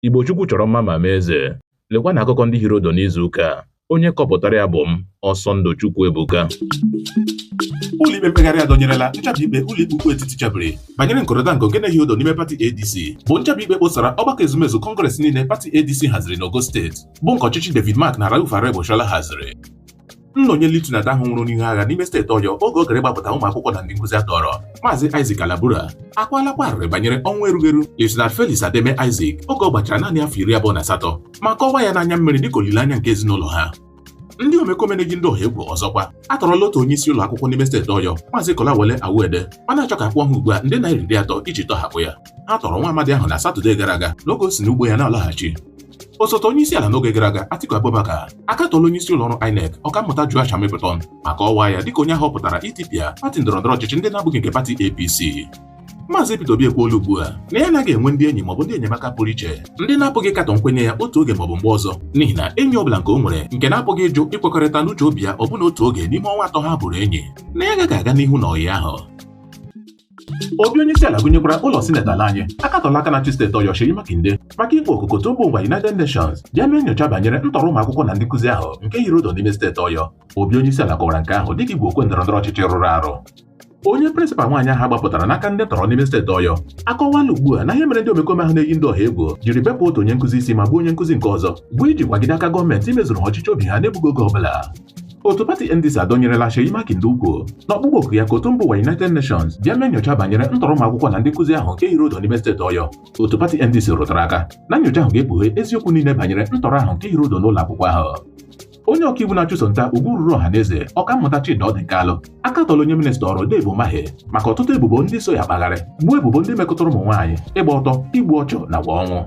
Igbo Chukwu chọrọ mma ma mee eze. Lekwa na akụkọ ndị hiri odo n'izu ụka a onye kọpụtara ya bụ m Ọsọndụ Chukwuebuka ụlọikpe mkpegharị adọnyerela nchabi ikpe ụlọikpe ukwu etiti chabiri banyere nkọrịta nke nke na-ehi odo n'ime pati ADC bụ nchabi ikpe kposara ọgbakọ ezumezu kọngres niile pati ADC haziri n'ogo steeti bụ nke ọchịchị David Mark na Rauf Aregbesola haziri Nna onye lieutenant ahụ nwụrụ n'ihu agha n'ime steeti Ọyọ oge ọ gara ịgbapụta ụmụ akwụkwọ na ndị nkụzi a tọrọ, Maazị Isaac Alabura akwaalakwa arịrị banyere ọnwụ erughị eru Lieutenant Felix Ademe Isaac oge ọ gbachara naanị afọ iri abụọ na asatọ ma kọwaa ya n'anya mmiri dịka olileanya nke ezinụlọ ha. ndị omekome na-eyi ndị ọha egwu ọzọkwa atọrọla otu onye isi ụlọ akwụkwọ n'ime steeti Ọyọ Maazị Kolawole Owoade ma na-achọ ka a kwụọ ha ugbu a nde naira iri atọ iji tọhapụ ya ha tọrọ nwa amadi ahụ na Satọde gara aga n'oge o si n'ugbo ya na-alaghachi osote onye isi ala n'oge gara aga Atiku Abubakar akatọla onye isi ụlọ ọrụ INEC ọkammụta Joash Amupitan ma kọwaa ya dịka onye a họpụtara itipịa pati ndọrọndọrọ ọchịchị ndị na-abụghị nke pati APC Maazị Peter Obi ekwuola ugbu a na ya anaghị enwe ndị enyi maọbụ ndị enyemaka pụrụ iche ndị na-apụghị ịkatọ nkwenye ya otu oge maọbụ mgbe ọzọ n'ihi na enyi ọ bụla nke o nwere nke na-apụghị ịjụ ịkwekọrịta n'uche obi ya ọbụna otu oge n'ime ọnwa atọ ha bụrụ enyi na ya agaghị aga n'ihu na ọyị ahụ Obi onyeisiala gụnyekwara ụlọ sineti ala anyị akatọla aka na-achị steeti Ọyọ Seyi Makinde maka ịkpọ oku ka otu mba ụwa United Nations bịa mee nyocha banyere ntọrọ ụmụ akwụkwọ na ndị nkụzi ahụ nke hiri odo n'ime steeti Ọyọ. Obi onyeisiala kọwara nke ahụ dịka igwe okwe ndọrọndọrọ ọchịchị rụrụ arụ. Onye prịnsịpal nwaanyị ahụ a gbapụtara n'aka ndị ntọrọ n'ime steeti Ọyọ akọwala ugbu a na ihe mere ndị omekome ahụ na-eyi ndị ọha egwu jiri bepụ otu onye nkụzi isi ma gbuo onye nkụzi nke ọzọ bụ iji kwagide aka gọọmenti imezuru ha ọchịchọ obi ha n'egbughị oge ọbụla. otu pati NDC adọnyerela Seyi Makinde ukwu n'ọkpụkpọ oku ya ka otu mba ụwa United Nations bịa mee nyocha banyere ntọrọ ụmụ akwụkwọ na ndị nkụzi ahụ nke hiri odo n'ime steeti Ọyọ otu pati NDC rụtara aka na nyocha ahụ ga-ekpughe eziokwu niile banyere ntọrọ ahụ nke hiri odo n'ụlọ akwụkwọ ahụ onye ọkaiwu na-achụso nta ugwu ruru ọha na eze ọkammụta Chidi Ọdịnkalụ akatọla onye minista ọrụ Dave Umahi maka ọtụtụ ebubo ndị so ya akpagharị ugbu a ebubo ndị metụtara ụmụ nwaanyị ịgba ọtọ igbu ọchụ nakwa ọnwụ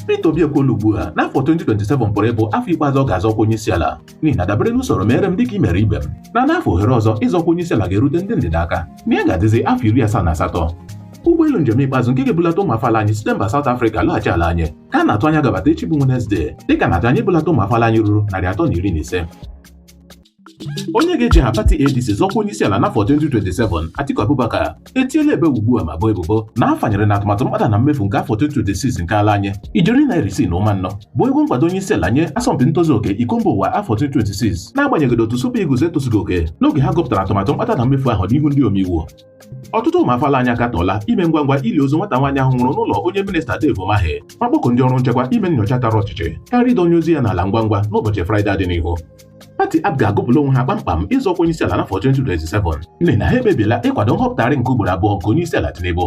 Peter Obi ekwuola ugbu a na afọ 2027 pụrụ ịbụ afọ ikpeazụ ọ ga-azọ ọkwa onye isi ala n'ihi na dabere n'usoro mere m dịka i mere ibe m na n'afọ ohere ọzọ ịzọ ọkwa onye isi ala ga-erute ndị ndịda aka na ya ga-adịzi afọ iri asaa na asatọ ụgbọelu njem ikpeazụ nke ga-ebulata ụmụ afọ ala anyị site mba South Africa lọghachi ala anyị ka a na-atụ anya ga-abata echi bụ Wenezdee dịka a na-atụ anya ibulata ụmụ afọ ala anyị ruru narị atọ na iri na ise onye ga-eji aha pati ADC zọọ ọkwa onye isi ala n'afọ 2027 Atiku Abubakar etiela ebe ugbu a ma bo ebubo na a fanyere na atụmatụ mkpata na mmefu nke afọ 2026 nke ala anyị ijeri naira isii na ụma anọ bụ ego nkwado onye isi ala nye asọmpi ntozu oke iko mba ụwa afọ 2026 n'agbanyeghị na otu Super Eagles etozughị oke n'oge ha gụpụtara atụmatụ mkpata na mmefu ahụ n'ihu ndị omeiwu ọtụtụ ụmụ afọ ala anyị akatọọla ime ngwa ngwa ili ozu nwata nwaanyị ahụ nwụrụ n'ụlọ onye minista Dave Umahi ma kpọkuo ndị ọrụ nchekwa ime nyocha tara ọchịchị karịa ịdọnye ozu ya n'ala ngwa ngwa n'ụbọchị Fraịde dị n'ihu pati APGA agụpụla onwe ha kpamkpam ịzọ ọkwa onyeisiala n'afọ 2027 n'ihi na ha ekpebiela ịkwado nhọpụtagharị nke ugboro abụọ nke onyeisiala Tinubu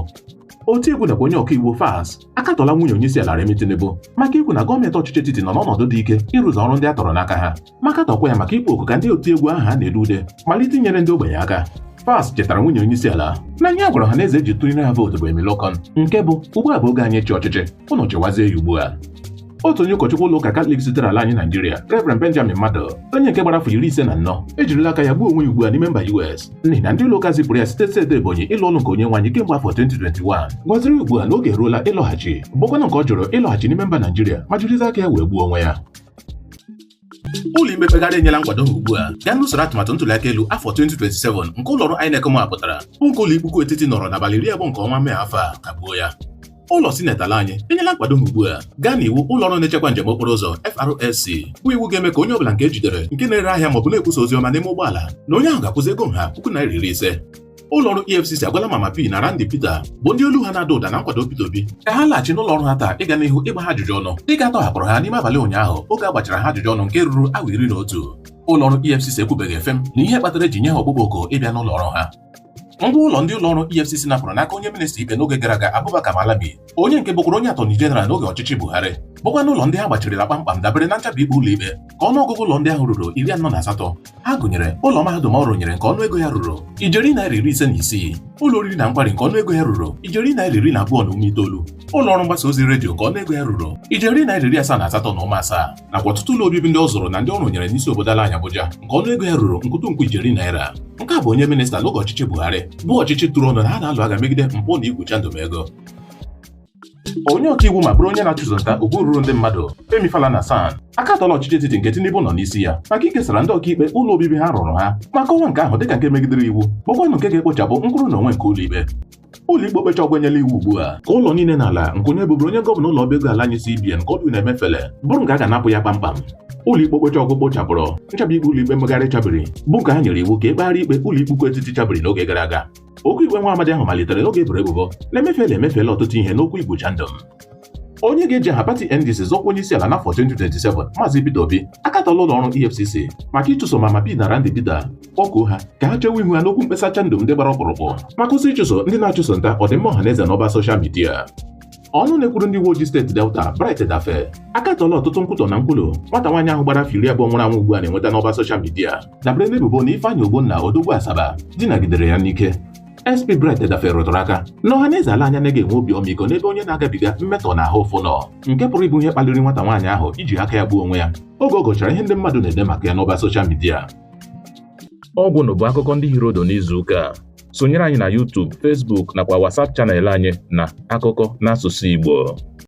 otiegwu nakwa onye ọkaiwu Falz akatọla nwunye onyeisiala Remi Tinubu maka ikwu na gọọmenti ọchịchị etiti nọ n'ọnọdụ dị ike ịrụzu ọrụ ndị a tọrọ n'aka ha ma katọkwa ya maka ịkpọ oku ka ndị otiegwu aha ha na-ede ude malite inyere ndị ogbenye aka Falz chetara nwunye onyeisiala na ihe a gwara ọha na eze ji tụnyere ha vootu bụ Emilokon nke bụ ugbu a bụ oge anyị ịchị ọchịchị unu chịwazie ya ugbu a otu onye ụkọchukwu ụlọ ụka katọlik sitere ala anyị naijiria reverend benjamin madu onye nke gbara afọ iri ise na anọ ejirila aka ya gbuo onwe ya ugbu a n'ime mba us n'ihi na ndị ụlọ ụka zipụrụ ya site steeti ebonyi ịlụ ọlụ nke onye nwe anyị kemgbe afọ 2021 gwaziri ugbu a na oge eruola ịlọghachi bụkwanụ nke ọ jụrụ ịlọghachi n'ime mba naijiria ma jirizi aka ya wee gbuo onwe ya ụlọikpe mkpegharị enyela nkwado ha ugbu a gaa n'usoro atụmatụ ntụliaka elu afọ 2027 nke ụlọrụ INEC mapụtara bụ nke ụlọ ikpe ukwu etiti nọrọ n'abalị iri abụọ nke ọnwa mee afọ a kagbuo ya ụlọ sineti ala anyị enyela nkwado ha ugbu a gaa n'iwu ụlọọrụ na-echekwa njem okporo ụzọ FRSC bụ iwu ga-eme ka onye ọbụla nke e jidere nke na-ere ahịa maọbụ na-ekwusa ozi ọma n'ime ụgbọala na onye ahụ ga-akwụzi ego nha puku naira iri ise ụlọọrụ EFCC agwala Mama P na Randy Peter bụ ndị olu ha na-ada ụda na nkwado Peter Obi ka ha laghachi n'ụlọ ọrụ ha taa ịga n'ihu ịgba ha ajụjụ ọnụ dịka a tọhapụrụ ha n'ime abalị ụnyaahụ oge a gbachara ha ajụjụ ọnụ nke ruru awa iri na otu ụlọọrụ EFCC ekwubeghị efe m na ihe kpatara e ji nye ha ọkpụkpọ oku ịbịa n'ụlọ ọrụ ha ngwa ụlọ ndị ụlọọrụ EFCC napụrụ n'aka onye minista ikpe n'oge gara aga Abubakar Malami onye nke bụkwara onye atọni jeneral n'oge ọchịchị Buhari bụkwanụ ụlọ ndị ha gbachirila kpamkpam dabere na nchabi ikpe ụlọ ikpe ka ọnụọgụgụ ụlọ ndị ahụ ruru iri anọ na asatọ ha gụnyere ụlọ mahadum ọ rụnyere nke ọnụego ya ruru ijeri naira iri ise na isii ụlọ oriri na nkwari nke ọnụego ya ruru ijeri naira iri na abụọ na ụma itoolu ụlọ ọrụ mgbasa ozi redio nke ọnụego ya ruru ijeri naira iri asaa na asatọ na ụma asaa nakwa ọtụtụ ụlọ obibi ndị ọ zụrụ na ndị ọ rụnyere n'isi obodo ala anyị Abuja nke ọnụ ego ya ruru nkwụtụnkwụ ijeri naira nke a bụ onye minista n'oge ọchịchị Buhari bụ ọchịchị tụrụ ọnụ na ha na-alụ agha megide mpụ na igwu chandum ego onye ọkaiwu ma bụrụ onye na-achụso nta okwu ruru ndị mmadụ Femi Falana SAN akatọla ọchịchị etiti nke Tinubu nọ n'isi ya maka ikesara ndị ọkaikpe ụlọ obibi ha rụrụ ha ma kọwaa nke ahụ dịka nke megidere iwu bụkwanụ nke ga-ekpochapụ nkwụrụ na onwe nke ụlọikpe ụlọikpe okpecha ọgwụ enyela iwu ugbu a ka ụlọ niile na ala nke onye bụbụrụ onye gọvanọ ụlọ ọba ego ala anyị CBN Godwin Emefiele bụrụ nke a ga-anapụ ya kpamkpam ụlọikpe okpecha ọgwụ kpochapụrụ nchabi ikpe ụlọikpe mkpegharị chabiri bụ nke a nyere iwu ka e kpegharị ikpe ụlọikpe ukwu etiti chabiri n'oge gara aga okwu ikpe nwa amadi ahụ malitere oge e boro ebubo na Emefiele emefiela ọtụtụ ihe n'okwu igwu chandum onye ga-eji aha pati NDC zọọ ọkwa onye isi ala n'afọ 2027 Maazị Peter Obi akatọla ụlọ ọrụ EFCC maka ịchụso Mama P na Randy Peter kpọkuo ha ka ha chewe ihu ha n'okwu mkpesa chandum ndị gbara ọkpụrụkpụ ma kwụsị ịchụso ndị na-achụso nta ọdịmma ọha na eze n'ọba soshal midia ọnụ na-ekwuru ndị uwe ojii steeti Delta Bright Edafe akatọla ọtụtụ nkwutọ na nkwulu nwata nwaanyị ahụ gbara afọ iri abụọ nwụrụ anwụ ugbu a na-enweta n'ọba soshal midia dabere n'ebubo na Ifeanyi Ogbonna odogwu Asaba dinagidere ya n'ike SP Bright Edafe rụtụrụ aka na ọhaneze ala anyị anaghị enwe obi ọmịiko n'ebe onye na-agabiga mmetọ na ahụ ụfụ nọ nke pụrụ ịbụ ihe kpaliri nwata nwaanyị ahụ iji aka ya gbuo onwe ya oge ọ gụchara ihe ndị mmadụ na-ede maka ya n'ọba soshal midia ọ gwụnụ bụ akụkọ ndị hiri ụdụ n'izu ụka a sonyere anyị na YouTube, Facebook nakwa WhatsApp chanel anyị na akụkọ n'asụsụ Igbo